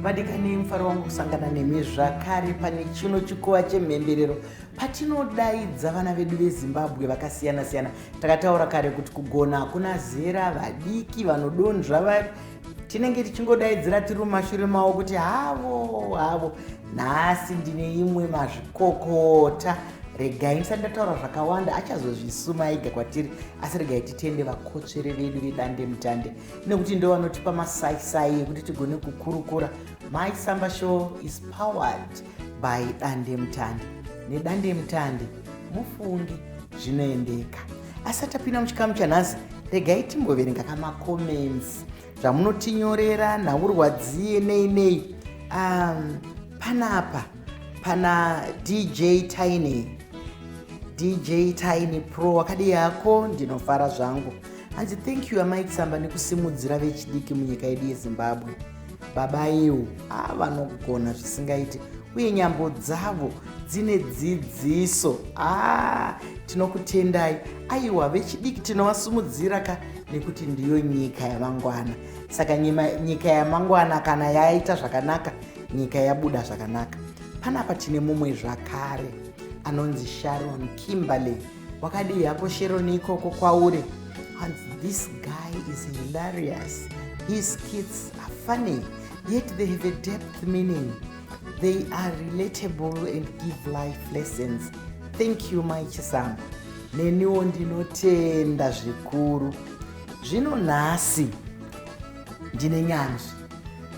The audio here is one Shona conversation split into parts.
vadikanei mufaro wangu kusangana nemi zvakare pane chino chikuva chemhemberero patinodaidza vana vedu vezimbabwe vakasiyana-siyana takataura kare kuti kugona hakuna zera vadiki vanodonzva tinenge tichingodaidzira tiri mumashure mavo kuti havo havo nhasi ndine imwe mazvikokota regai ndisati ndataura zvakawanda achazozvisuma ega kwatiri asi regai titende vakotsvere vedu vedande mutande nekuti ndo vanotipa masaisai ekuti tigone kukurukura my samba show is powered by dande mutande nedande mutande mufungi zvinoendeka asati apinda muchikamu chanhasi regai timboverenga kamacomments zvamunotinyorera nhaurwadziye nei nei um, panapa pana dj tiny dj tiny pro wakadii yako ndinofara zvangu hanzi thank you amai kusamba nekusimudzira vechidiki munyika yedu yezimbabwe baba iwo haa vanogona zvisingaiti uye nyambo dzavo dzine dzidziso haa tinokutendai aiwa vechidiki tinovasumudzira ka nekuti ndiyo nyika yamangwana saka nyika yamangwana kana yaita zvakanaka nyika yabuda zvakanaka panapa tine mumwe zvakare anonzi sharon kimberley wakadii hako shero neikoko kwauri hanzi this guy is hilarious his kids are funny yet they have a depth meaning they are relatable and give life lessons thank you mai chisambo neniwo ndinotenda zvikuru zvino nhasi ndine nyanzvi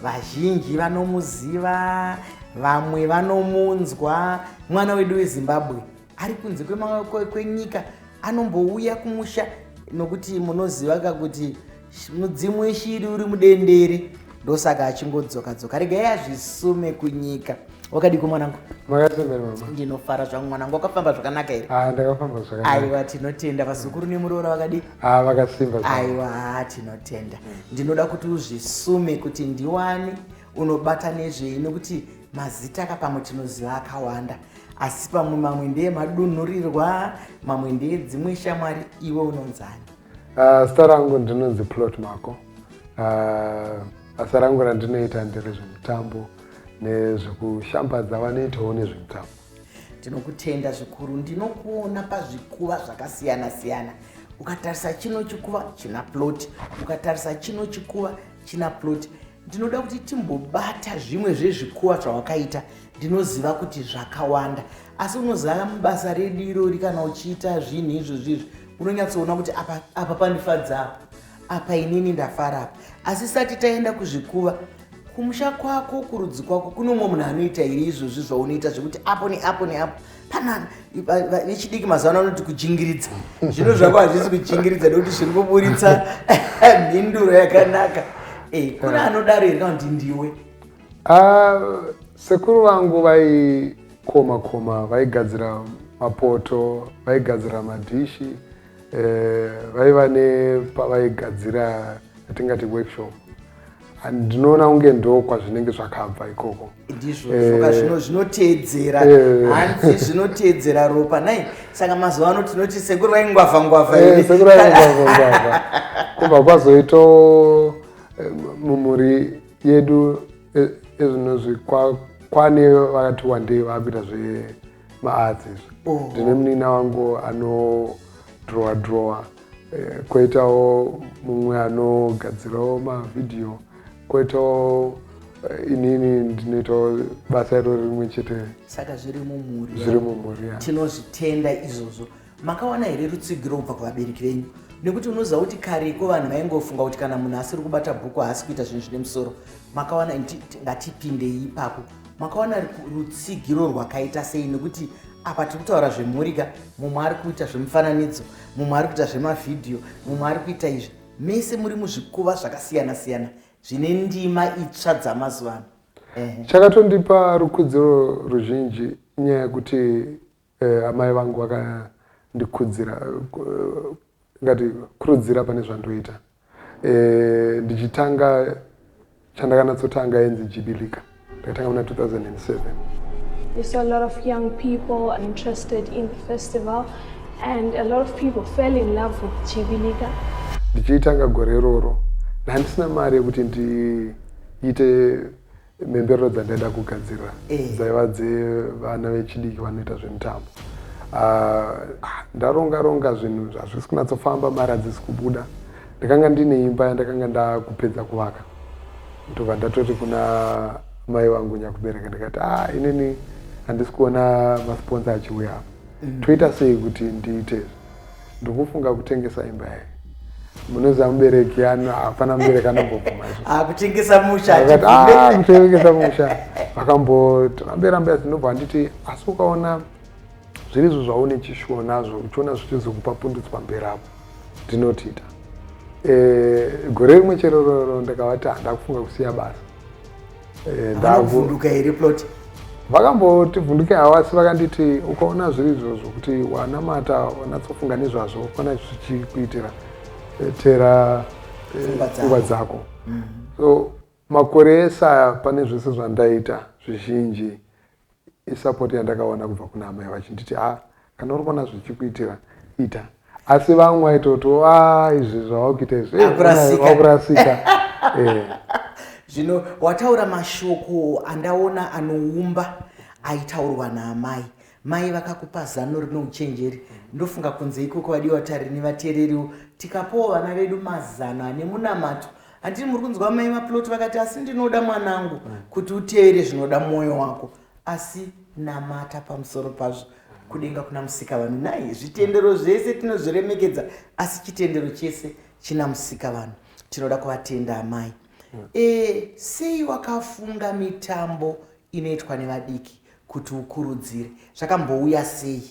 vazhinji vanomuziva vamwe vanomunzwa mwana wedu wezimbabwe ari kunze kwenyika anombouya kumusha nokuti munoziva ka kuti mudzimu weshiri uri mudendere ndosaka achingodzoka dzoka regai azvisume kunyika wakadiko mwanangu ndinofara zvangu mwanangu wakafamba zvakanaka here ah, aiwa tinotenda vazukuru nemuroora vakadi ah, aiwa tinotenda ndinoda kuti uzvisume kuti ndiwane unobata nezvei nokuti mazita ka pamwe tinoziva akawanda asi pamwe mamwe ndeye madunhurirwa mamwe ndeye dzimwe shamwari iwe unonzani uh, ah, sita rangu ndinonzi plot mako uh, ah, basa rangu randinoita ndiri zvemutambo nezvekushambadza vanoitawo nezvemutambo ndinokutenda zvikuru ndinokuona pazvikuva zvakasiyana siyana ukatarisa chino chikuva china plot ukatarisa chino chikuva china plot ndinoda kuti timbobata zvimwe zvezvikuwa zvawakaita ndinoziva kuti zvakawanda asi unozava mubasa redu irori kana uchiita zvinhu izvozvi izvi unonyatsoona kuti apa, apa pandifadza apa apa inini ndafara apa asi sati taenda kuzvikuva kumusha kwako kurudzi kwako kune umwe munhu anoita iri izvozvi zvaunoita zvekuti apo neapo neapo panana vechidiki mazuva ano anoti kujingiridza zvino zvako hazvisi kujingiridza nekuti zviri kuburitsa mhinduro yakanaka eh, kune eh. anodaro here kana kuti ndiwe ah, sekuru vangu vaikoma koma vaigadzira mapoto vaigadzira madhishi eh, vaiva nepavaigadzira atingati workshop ndinoona kunge ndo kwazvinenge zvakabva ikoko ndizvo eh. zvino zvinoteedzera eh. hanzi zvinoteedzera ropa nai saka mazuva ano tinoti sekuru vaingwavha ngwavha eh, sekuru vaingwavha ngwavha kubva kwazoito mumhuri yedu ezvinozvi kwane vakati wandei vakuita zvemaarts izvi oh. ndine munina wangu anodrowa drowa koitawo mumwe anogadzirawo mavhidhiyo Kwetawo Eh, inini ndinoitawo basa iro rimwe chete saka zviri mumhuri zviri mumhuri tinozvitenda izvozvo makawana here rutsigiro kubva kuvabereki venyu nekuti unoziva kuti kareko vanhu vaingofunga kuti kana munhu asiri kubata bhuku haasi kuita zvinhu zvine musoro makawana ngatipindei ipapo makawana rutsigiro rwakaita sei nekuti apa tiri kutaura zvemhurika mumwe ari kuita zvemufananidzo mumwe ari kuita zvemavhidhiyo mumwe ari kuita izvi mese muri muzvikuva zvakasiyana siyana zvine ndima itsva dzamazuva ano eh. chakatondipa rukudziro ruzhinji nyaya yekuti eh, amai vangu vakandikudzira eh, ngati kurudzira pane zvandoita eh, ndichitanga chandakanatsotanga yenzi jibilika ndakatanga muna 2007 We saw a lot of young people interested in the festival and a lot of people fell in love with Jibilika. Ndichiitanga gore iroro ndandisina mari yekuti ndiite mhemberero dzandaida kugadzirira eh. dzaiva dzevana vechidiki vanoita zvemitambo ah, ndaronga ronga zvinhu zvazvisi kunatsofamba mari hadzisi kubuda Ndakanga ndine imba yandakanga ndakupedza kuvaka ndobva ndatoti kuna mai vangu nyakubereka ndikati a ah, inini handisi kuona masponsa achiuya apa mm. toita sei kuti ndiite ndikufunga kutengesa imba yayo munoziva mubereki hapana mubereki anambobvuma akutengesa ah, mushakutengesa ah, musha vakambotorambera mbera dzinobva anditi asi ukaona Zviri izvo zvaune chishuwo nazvo uchiona zvichizokupa pundutso pamberi apo ndinotiita. E, eh, gore rimwe chero roro ndakavati handa kufunga kusiya basa. E, eh, Vakavhunduka here plot? Vakamboti vhunduke hawasi vakanditi ukaona zviri izvozvo kuti wanamata wanatsofunga nezvazvo ukona zvichikuitira eh, tera pfungwa dzako. Mm. So makore ese aya pane zvese zvandaita zvizhinji isapoti yandakaona kubva kuna amai vachinditi a ah, kana uri kuona zvichikuitira ita asi vamwe vaitoti a ah, izvi zvavakuita izviakurasika eh, eh. zvino wataura mashoko andaona anoumba aitaurwa naamai mai vakakupa zano rino uchenjeri ndofunga kunze ikoko vadiwa tarini vateereriwo tikapowo vana vedu mazano ane munamato Handiti muri kunzwa mai vaplot vakati asi ndinoda mwanangu mm. kuti utevere zvinoda mwoyo wako asi namata pamusoro pazvo kudenga kuna musika vanhu nai zvitendero zvese tinozviremekedza asi chitendero chese china musika vanhu tinoda kuvatenda amai mm. e, sei wakafunga mitambo inoitwa nevadiki kuti ukurudzire zvakambouya sei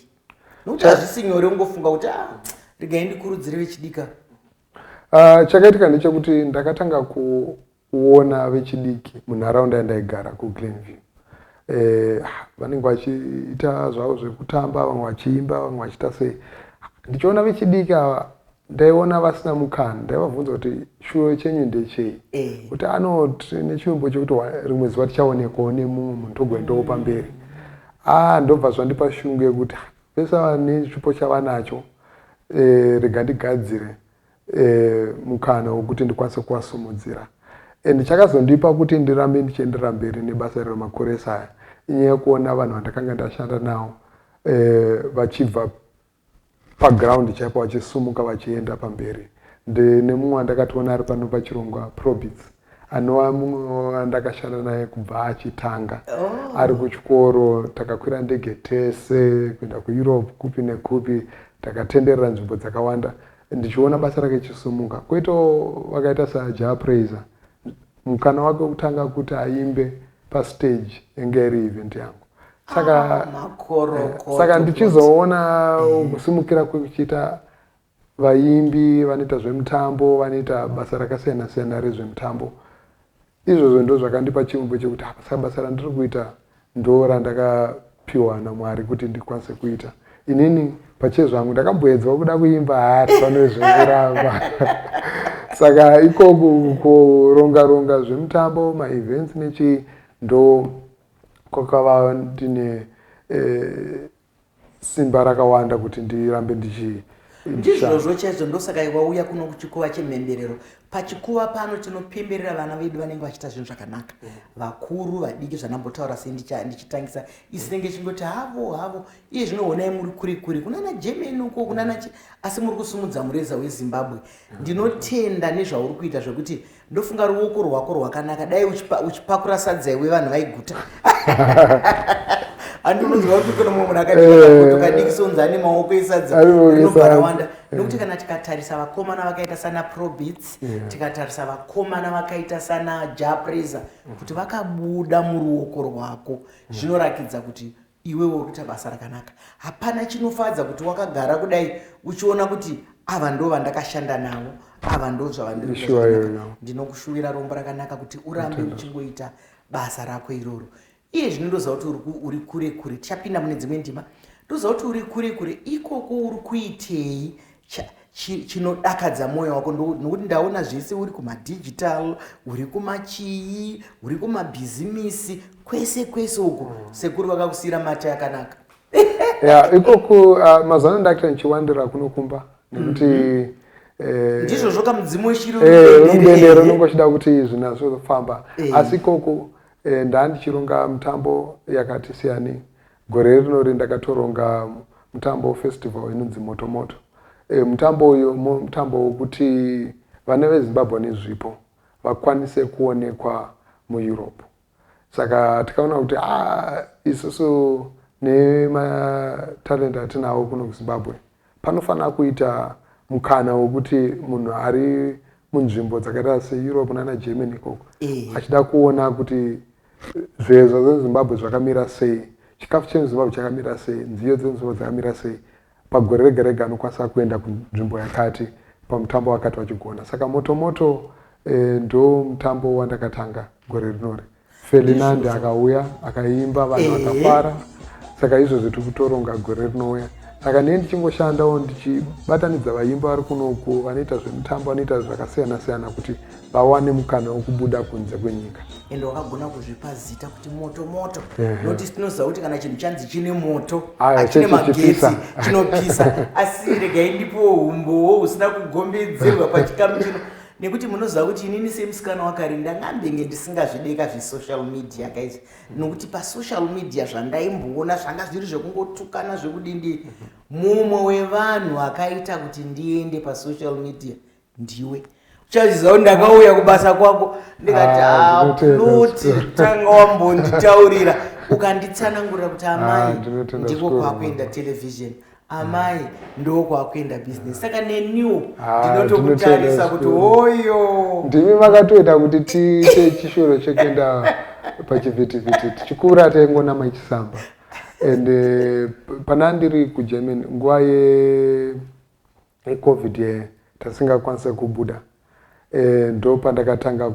nokuti hazvisi nyore ungofunga kuti ah, regai ndikurudzire vechidika Uh, chakaitika ndechekuti ndakatanga kuona vechidiki munharaunda yandaigara kuglenview eh, vanenge vachiita zvavo zvekutamba vamwe vachiimba vamwe vachiita sei ndichiona vechidiki ava ndaiona vasina mukana ndaivabvunza kuti shuwo chenyu ndechei eh. kuti anoti nechivimbo chekuti rimwe zuva tichaonekwawo nemumwe munhu togwendawo pamberi a ah, ndobva zvandipa shungu yekuti Vese ava nechipo chavanacho eh, rega ndigadzire eh, mukana wekuti ndikwanise kuvasumudzira and chakazondipa kuti ndirambe ndichienderera mberi nebasa iri remakoresa aya inyaya yekuona vanhu vandakanga ndashanda nawo eh, vachibva paground chaipo vachisumuka vachienda pamberi ndine mumwe wandakatoona ari pano pachirongwa probits anova mumwe wandakashanda naye kubva achitanga oh. ari kuchikoro takakwira ndege tese kuenda kueurope kupi nekupi takatenderera nzvimbo dzakawanda ndichiona basa rake chisumuka kwoitawo vakaita saja praiser mukana wake wekutanga kuti aimbe pastage yanga iri event yangu saka ah, eh, saka ndichizoona kusimukira kwekuchiita Vaimbi vanoita zvemutambo vanoita basa rakasiyana siyana rezvemutambo. Izvozvo ndozvakandipa chiumbwe chekuti apa saka basa randiri kuita ndo randakapiwa naMwari kuti ndikwanise kuita. Inini pachezvangu ndakamboedzwa kuda kuimba haasi vanozvinguramba. Saka ikoku kuronga ronga zvemutambo maevents nechii ndo kwakava ndine eh, simba rakawanda kuti ndirambe ndichi ndizvozvo chaizvo ndosaka wauya kuno kuchikuva chemhemberero pachikuva pano tinopemberera vana vedu vanenge vachiita zvinhu zvakanaka vakuru vadiki zvandambotaura sei ndichitangisa isinenge chingoti havo havo iye zvinoonai muri kuri kuri kunana germany uko kunana chi asi muri kusumudza mureza wezimbabwe ndinotenda nezvauri kuita zvekuti ndofunga ruoko rwako rwakanaka dai uchipakura sadza iwe vanhu vaiguta handi unonzwa kuti kune mumwe munhu akadikadiki eh. sounzi ane maoko esadza rinobva rawanda nokuti kana tikatarisa vakomana vakaita sana probits tikatarisa vakomana vakaita sana japresa kuti vakabuda muruoko rwako zvinorakidza kuti Iwe wokuita basa rakanaka. Hapana chinofadza kuti wakagara kudai uchiona kuti ava ndo vandakashanda navo ava ndo zvavandiri ndinokushuvira rombo rakanaka kuti urambe uchingoita basa rako iroro iye zvino ndoziva kuti uri kure kure tichapinda mune dzimwe ndima ndoziva kuti uri kure kure ikoko uri kuitei chinodakadza mwoyo wako nokuti ndaona zvese uri kumadigital uri kumachii uri kumabhizimisi kwese kwese uku mm. sekuru vakakusiyira mate akanaka ya ikoku uh, mazana ndaita ndichiwandira kuno kumba nekuti mhm. eh, ndizvozvo kamudzimu weshiriumbendero eh, unenge uchida kuti zvinazofamba eh. asi ikoku ndandichironga mitambo yakati siyanei Gore rinori ndakatoronga mutambo festival inonzi Moto Moto. E, mutambo uyu mutambo wokuti vana veZimbabwe nezvipo vakwanise kuonekwa muEurope. Saka tikaona kuti ah, isusu nematalent atinawo kuno kuZimbabwe Panofanira kuita mukana wekuti munhu ari munzvimbo dzakaita seeurope nana germany ikoko eh. achida kuona kuti zvezva zvezimbabwe zvakamira sei chikafu chemuzimbabwe chakamira sei nziyo dzemuzimbabwe dzakamira sei pagore rega rega anokwanisa kuenda kunzvimbo yakati pamutambo wakati wachigona saka motomoto eh, ndo mutambo wandakatanga gore rinori Ferdinand akauya akaimba vanhu eh. vakafara saka izvozvo tiri kutoronga gore rinouya saka nei ndichingoshandawo ndichibatanidza vaimba vari kunoku vanoita zvemutambo vanoita zvakasiyana siyana kuti vawane mukana wekubuda kunze kwenyika ende wakagona kuzvipa zita kuti moto moto noti tinoziva kuti kana chinhu chanzi chine moto achine magetsi chinopisa asi regai ndipowo humbowo husina kugombidzirwa pachikamu chino nekuti munoziva kuti inini semusikana wakari ndangambenge ndisingazvideka zvesocial media guys nokuti pasocial media zvandaimboona zvanga zviri zvekungotukana zvekudindi mumwe wevanhu akaita kuti ndiende pasocial media ndiwe chaziva kuti ndakauya kubasa kwako ndikati aploti ah, ah, tanga wambonditaurira ukanditsanangurira kuti amai ah, ndiko kwakuenda televhizheni amai ndo kwakuenda business saka neniwo ah, ndinotokutarisa kuti oyo ndimi makatoita kuti tiite chishoro chekuenda pachivhitivhiti tichikura taingonama ichisamba and eh, pana ndiri kugermany nguva yecovid ye tasingakwanisa kubuda eh, ndo pandakatanga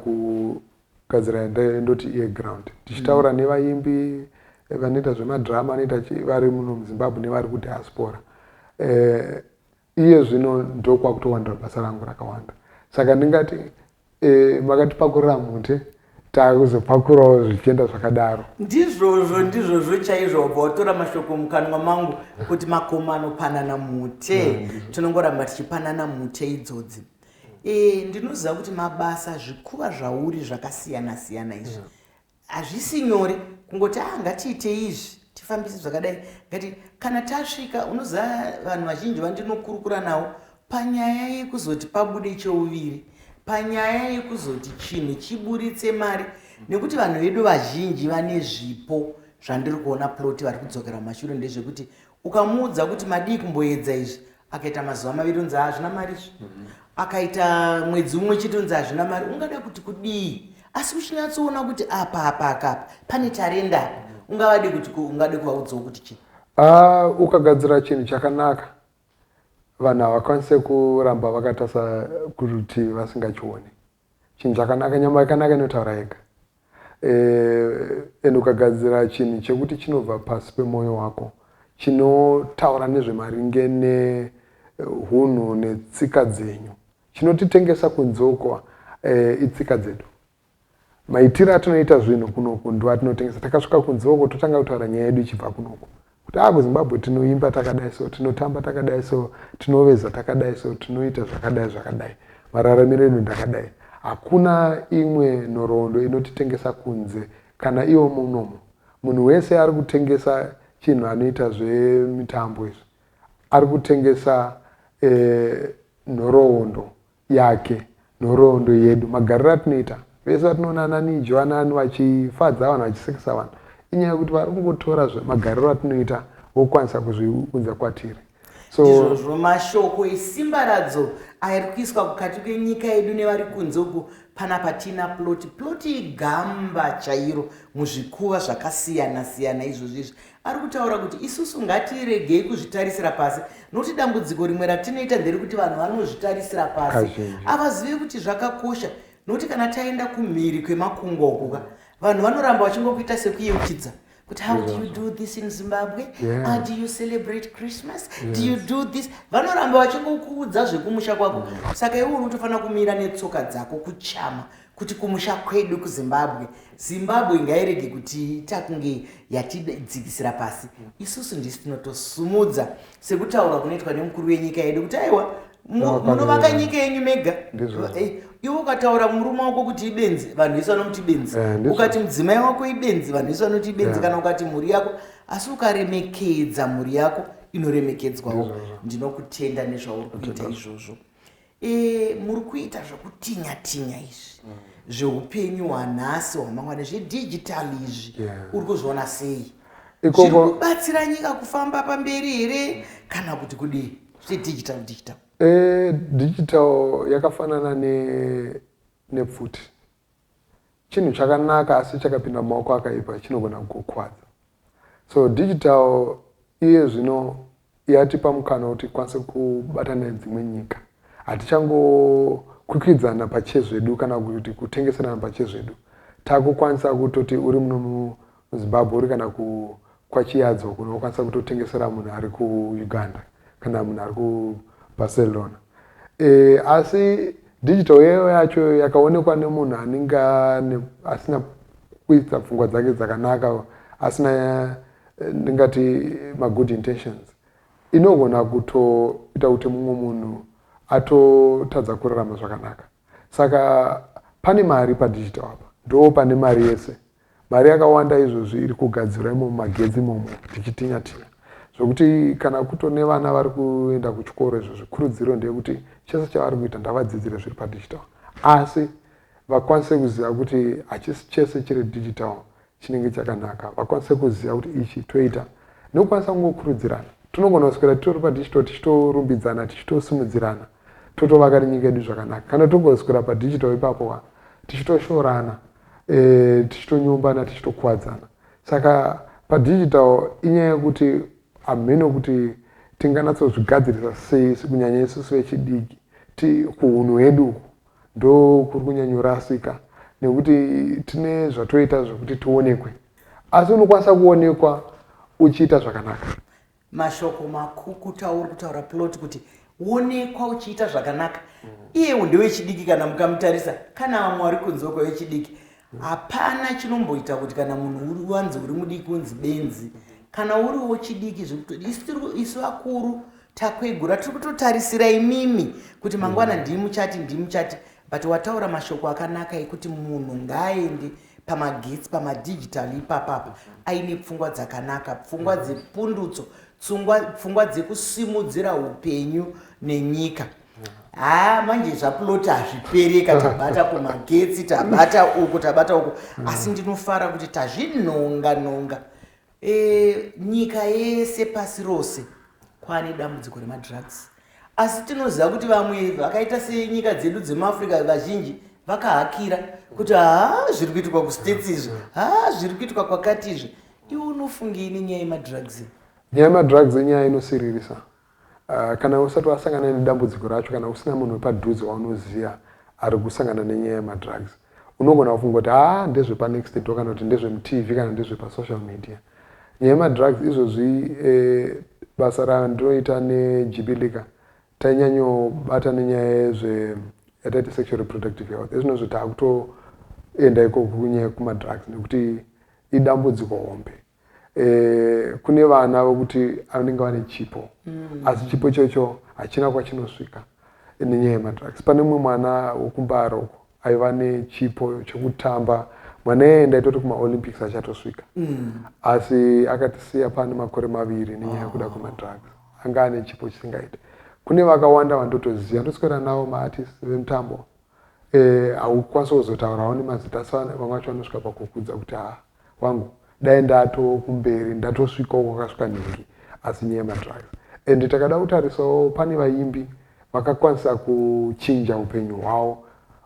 kugadzira yandaive ndoti iye ground tichitaura mm. nevaimbi eh, vanoita zvemadrama anoita vari muno muzimbabwe nevari kudiaspora eh, iye zvino ndokwakutowandira basa rangu rakawanda saka ndingati eh, makatipakurira mute takuzopakurawo zvichienda zvakadaro ndizvozvo ndizvozvo chaizvo wabva watora mashoko mukanwa mangu kuti makoma anopanana mute mm. tinongoramba tichipanana mute idzodzi Eh, ndinoziva kuti mabasa zvikuva zvauri zvakasiyana siyana izvi hazvisi nyore kungoti ah ngatiite izvi tifambise zvakadai ngati kana tasvika unoziva vanhu vazhinji vandinokurukura navo panyaya yekuzoti pabude cheuviri panyaya yekuzoti chinhu chiburitse mari nekuti vanhu vedu vazhinji vane zvipo zvandiri kuona ploti vari kudzokera mumashure ndezvekuti ukamuudza kuti madii kumboedza izvi akaita mazuva maviri unzi hazvina mari izvi mhm. akaita mwedzi umwe chete unzi hazvina mari ungada kuti kudii asi uchinyatsoona kuti apa apa akapa pane tarenda apa ungavadi kuti ungade kuvaudzawo kuti chii ah, ukagadzira chinhu chakanaka vanhu havakwanise kuramba vakatasa kurutivi vasingachioni Chinhu chakanaka, nyama yakanaka inotaura yega and ukagadzira chinhu chekuti chinobva pasi pemwoyo wako chinotaura nezvemaringe nehunhu netsika dzenyu chinotitengesa kunzoko eh, itsika dzedu maitiro atinoita zvinhu kunoku ndo atinotengesa takasvika kunzoko totanga kutaura nyaya yedu ichibva kunoku kuti aa kuzimbabwe tinoimba takadai so tinotamba takadai so tinoveza takadai so tinoita zvakadai zvakadai mararamiro edu ndakadai hakuna imwe nhoroondo inotitengesa kunze kana iwo munomo munhu wese ari kutengesa chinhu anoita zvemitambo izvi ari kutengesa eh, nhoroondo yake nhoroondo yedu magariro atinoita vese vatinoona ananijo anani vachifadza vanhu vachisekesa vanhu inyaya yekuti vari kungotora magariro atinoita vokwanisa kuzviunza kwatiri so izvozvo mashoko esimba radzo ari kuiswa kukati kwenyika yedu nevari kunze uku pana patina ploti ploti igamba chairo muzvikuva zvakasiyana siyana izvozvo izvi Ari kutaura kuti isusu ngatiregei kuzvitarisira pasi nokuti dambudziko rimwe ratinoita nderekuti vanhu vanozvitarisira pasi avazive kuti zvakakosha nokuti kana taenda kumhiri kwemakungwa ukuka vanhu vanoramba vachingokuita sekuyeuchidza kuti how do you do this in zimbabwe yeah. how do you celebrate christmas yes. do you do this vanoramba vachingokuudza zvekumusha kwako mm. saka iwe unotofanira kumira netsoka dzako kuchama kuti kumusha kwedu kuzimbabwe zimbabwe ngairege kuti takunge yatidzikisira pasi isusu ndisi tinotosumudza sekutaura kunoitwa nemukuru wenyika yedu kuti aiwa munovaka nyika yenyu mega eh, iwe ukataura murume wako kuti ibenzi vanhu vese vanomuti benzi eh, ukati mudzimai wako ibenzi vanhu vese vanoti ibenzi kana ukati mhuri yako asi ukaremekedza mhuri yako inoremekedzwawo ndinokutenda nezvauri kuita izvozvo e, muri kuita zvokutinya tinya izvi mm. zveupenyu hwanhasi hwamangwana zvedigitali izvi yeah. uri kuzviona sei zviri kubatsira nyika kufamba pamberi here kana kuti kudii zvedigital digital e, digital yakafanana nepfuti ne chinhu chakanaka asi chakapinda mumaoko akaipa chinogona kukukwadza so digital iye zvino yatipa mukana kuti kwanise kubata nedzimwe nyika hatichangokwikidzana pachezvedu kana kuti kutengeserana pachezvedu takukwanisa kutoti uri muno Zimbabwe uri kana ku kwaChiyadzo kuno ukwanisa kutotengesera munhu ari kuUganda kana munhu ari kuBarcelona e, asi digital yeyo yacho yakaonekwa nemunhu anenge asina kuita pfungwa dzake dzakanaka asina eh, ndingati magood intentions inogona kutoita kuti mumwe munhu atotadza kurarama zvakanaka saka pane mari padigital apa ndo pane mari yese Mari yakawanda izvozvi iri kugadzirwa imomo magetsi imomo tichitinya tinya zvekuti kana kuto nevana vari kuenda kuchikoro izvo zvikurudziro ndeyekuti chese chavari kuita ndavadzidzire zviri padigital asi vakwanise kuziva kuti hachisi chese chiri digital chinenge chakanaka vakwanise kuziva kuti ichi toita nekukwanisa kungokurudzirana tinogona kuswera titori padigital tichitorumbidzana tichitosimudzirana totovaka rinyika yedu zvakanaka kana togoswera padigital ipapo wa tichitoshorana eh, tichitonyombana tichitokuwadzana saka padigital inyaya yekuti hameno kuti tinganatsozvigadzirisa sei kunyanya isusu vechidiki ti kuhunhu hwedu uku ndo kuri kunyanyorasika nekuti tine zvatoita zvekuti tionekwe asi unokwanisa kuonekwa uchiita zvakanaka mashoko makukutu auri kutaura plot kuti wonekwa uchiita zvakanaka mm. iye ndewechidiki kana mukamutarisa kana vamwe wari kunzi wekwa wechidiki hapana chinomboita kuti kana munhu wanzi uri mudiki unzi benzi kana uri wechidiki zvekutiisu vakuru takwegura tiri kutotarisira imimi kuti mangwana mm. ndimuchati ndimuchati but wataura mashoko akanaka ekuti munhu ngaaende pamagetsi pamadigital ipapapa aine pfungwa dzakanaka pfungwa mm. dzepundutso pfungwa dzekusimudzira upenyu nenyika haa manje zvaploti hazvipereka tabata kumagetsi tabata uku tabata uku mm. asi ndinofara kuti tazvinonga nonga E, nyika yese pasi rose kwane dambudziko remadrugs asi tinoziva kuti vamwe vakaita senyika dzedu dzemuafrica vazhinji vakahakira kuti haa zviri kuitwa kustates izvi haa zviri kuitwa kwakati izvi iwe unofungei nenyaya yemadrugs nyaya yemadrugs inyaya inosiririsa Kana usati wasangana nedambudziko racho kana usina munhu wepadhuze waunoziva ari kusangana nenyaya yemadrugs, unogona kufunga kuti haa ndezvepanext door kana kuti ndezvemuTV kana ndezvepasocial media. Nyaya yemadrugs izvozvi basa randinoita neJibilika tainyanyobata nenyaya yezve yataiti sexual reproductive health. Ezvinozvi takutoenda ikoko kunyaya yekumadrugs nekuti idambudziko hombe. eh, kune vana vokuti vanenge vane chipo mm. asi chipo ichocho hachina kwachinosvika nenyaya yemadrugs pane mumwe mwana wokumbaro uko aiva nechipo chekutamba mwana iyeye ndaitoti kumaolympics achatosvika mm. asi akatisiya pane makore maviri nenyaya yekuda oh. kwemadrugs anga ane chipo chisingaite kune vakawanda vandotoziva ndoswera navo maartist vemutambo eh, haukwanisi kuzotaurawo nemazita asi vamwe vacho vanosvika pakukudza kuti haa wangu dai ndato kumberi ndatosvikawo kwakasvika nhingi asi nyaya yemadrugs and takada kutarisawo pane vaimbi vakakwanisa kuchinja upenyu hwawo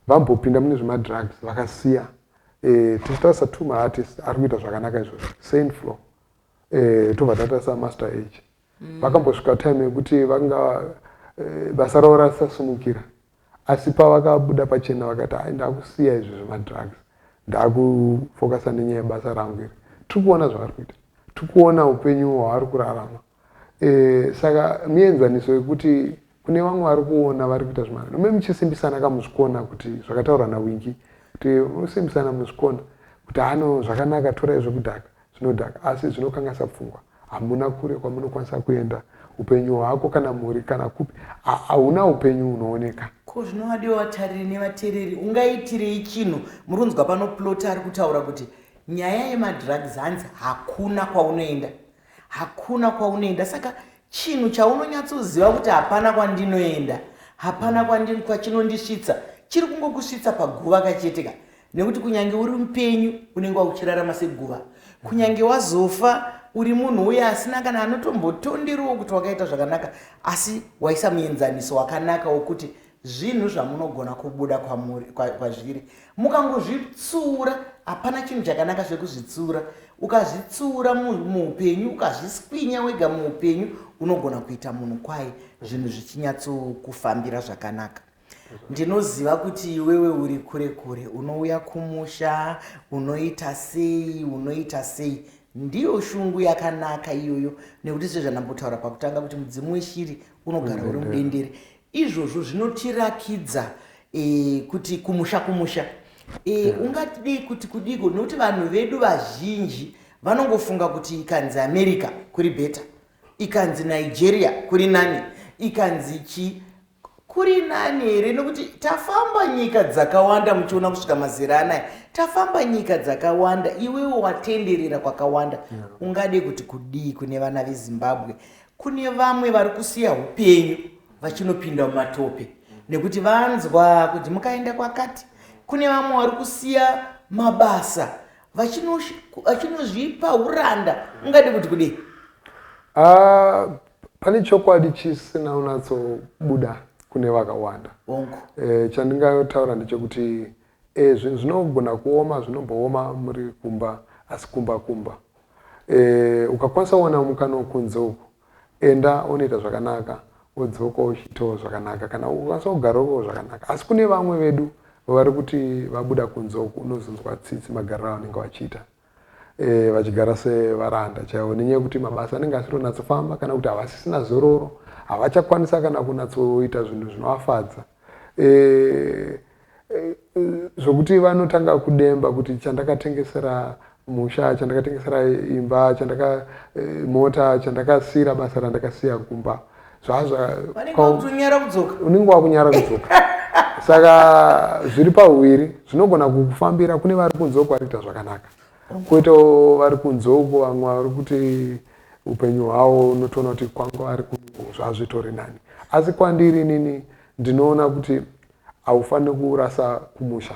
vambopinda mune zvemadrugs vakasiya e, tichitarisa two maartist ari kuita zvakanaka izvozvo saint flo e, eh, tobva tatarisa master age mm. vakambosvika time yekuti vanga e, basa ravo rasisasimukira Asi pavakabuda pachena vakati hai ndakusiya izvi zvemadrugs ndakufocasa nenyaya yebasa rangu iri. Tiri kuona zvavari kuita. Tiri kuona upenyu hwavari kurarama. E, saka mienzaniso yekuti kune vamwe vari kuona vari kuita zvimari nome muchisimbisana kamuzvikona kuti zvakataurwa nawingi kuti usimbisana muzvikona kuti hano zvakanaka tora izvekudhaka zvinodhaka asi zvinokanganisa pfungwa hamuna kure kwamunokwanisa kuenda upenyu hwako kana mhuri kana kupi hauna upenyu unooneka ko zvinovadiwa vatariri nevatereri ungaitirei chinhu muri kunzwa pano plota ari kutaura kuti nyaya yemadrugs hanzi hakuna kwaunoenda hakuna kwaunoenda saka Chinhu chaunonyatsoziva kuti hapana kwandinoenda, hapana kwandin kwachinondisvitsa, chiri kungokusvitsa paguva kachete ka. Nekuti kunyange uri mupenyu unenge wakuchirarama seguva. Kunyange wazofa uri munhu uye asina kana anotombotonderiwo kuti wakaita zvakanaka asi waisa muenzaniso wakanaka wokuti zvinhu zvamunogona kubuda kwamuri kwazviri mukangozvitsura hapana chinhu chakanaka zvekuzvitsura ukazvitsura muupenyu ukazviskwinya wega muupenyu unogona kuita munhu kwaye zvinhu zvichinyatsokufambira zvakanaka ndinoziva kuti iwewe uri kure kure unouya kumusha unoita sei unoita sei ndiyo shungu yakanaka iyoyo nekuti sezvandambotaura pakutanga kuti mudzimu weshiri unogara uri mudendere Izvozvo zvinotirakidza e, kuti kumusha kumusha e, ungadii kuti kudiko nokuti vanhu vedu vazhinji vanongofunga kuti ikanzi america kuri beta ikanzi nigeria kuri nani ikanzi chi kuri nani here nokuti tafamba nyika dzakawanda muchiona kusvika mazera anaya tafamba nyika dzakawanda iwewo watenderera kwakawanda ungade kuti kudii kune vana vezimbabwe Kune vamwe vari kusiya upenyu vachinopinda mumatope nekuti vanzwa kuti mukaenda kwakati. Kune vamwe vari kusiya mabasa vachinozvipa uranda ungadi kuti kudei? Ah, pane chokwadi chisina unatsobuda kune vakawanda. E, chandingayotaura ndechekuti Eh zvinhu zvinogona kuoma zvinombooma muri kumba asi kumba kumba. Eh ukakwanisa kuwana mukana wekunze uku enda unoita zvakanaka wodzoka uchitawo zvakanaka kana ukakwanisa kugara uko zvakanaka asi kune vamwe vedu vari kuti vabuda kunze uku unozonzwa tsitsi magariro avanenge vachiita vachigara sevaranda chaivo nenyaya yekuti mabasa anenge asitonyatsofamba kana kuti havasisina zororo havachakwanisa kana kunatsoita zvinhu zvinovafadza e, e, zvokuti vanotanga kudemba kuti chandakatengesera musha chandakatengesera imba chandaka e, mota chandakasiira basa randakasiya kumba zvazvaunenge wakunyara kudzoka saka zviri pahuviri zvinogona kukufambira kune vari kunze uko varikuita zvakanaka koitawo vari kunze uko vamwe vari kuti upenyu hwavo unotoona kuti kwanga vari zvazvitori nani asi kwandiri inini ndinoona kuti haufaniri kurasa kumusha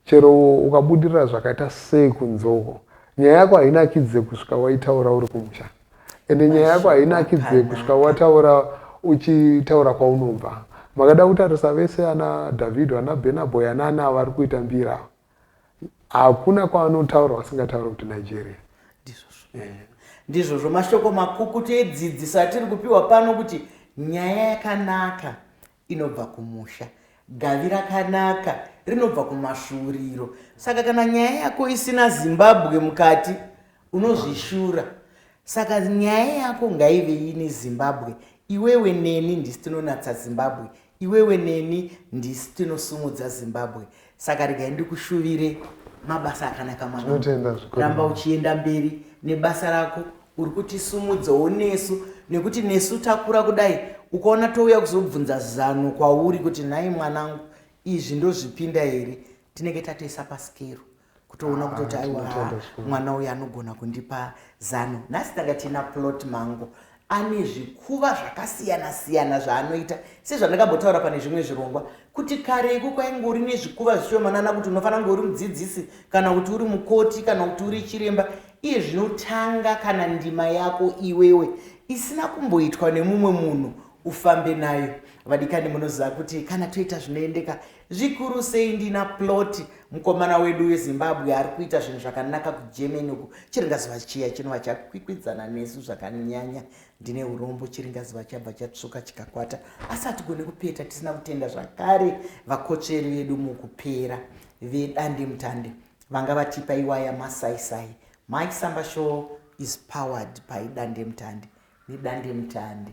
Chero ukabudirira zvakaita sei kunzoko, nyaya yako hainakidze kusvika waitaura uri kumusha. Ende nyaya yako hainakidze kusvika wataura uchitaura kwaunobva. Makada kutarisa vese ana Davido, ana Burna Boy, ana ana ava vari kuita mbira ava. Hakuna kwavanotaura vasingataure kuti Nigeria. Ndizvozvo mashoko makukutu edzidziso atiri kupiwa pano kuti nyaya yakanaka inobva kumusha, gavi rakanaka rinobva kumasvuuriro. Saka kana nyaya yako isina Zimbabwe mukati unozvishura. Saka nyaya yako ngaive ine Zimbabwe. Iwewe neni ndisi tinonatsa Zimbabwe. Iwewe neni ndisi tinosumudza Zimbabwe. saka regai ndikushuvire mabasa akanaka mwana ramba uchienda mberi nebasa rako uri kutisumudzawo nesu nekuti nesu takura kudai ukaona touya kuzobvunza zano kwauri kuti nhai mwanangu izvi ndozvipinda here tinenge tatoisa pasikero kutoona kutoti ah, aiwa mwana uyu anogona kundipa zano nhasi tanga tiina plot mango ane zvikuva zvakasiyana siyana zvaanoita sezvandakambotaura pane zvimwe zvirongwa kuti kare iku kwainge uri nezvikuva zvishomanana kuti unofanira kunge uri mudzidzisi kana kuti uri mukoti kana kuti uri chiremba iye zvinotanga kana ndima yako iwewe isina kumboitwa nemumwe munhu ufambe nayo vadikani munoziva kuti kana toita zvinoendeka zvikuru sei ndina plot mukomana wedu wezimbabwe ari kuita zvinhu zvakanaka kugermany uku chiringazuva chiya chinova chakwikwidzana nesu zvakanyanya ndine urombo chiringazuva chabva chatsvuka chikakwata asi hatigone kupeta tisina kutenda zvakare vakotsveri vedu mukupera vedande mutande vanga vatipa iwaya masaisai mike samba show is powered by dande mutande nedande mutande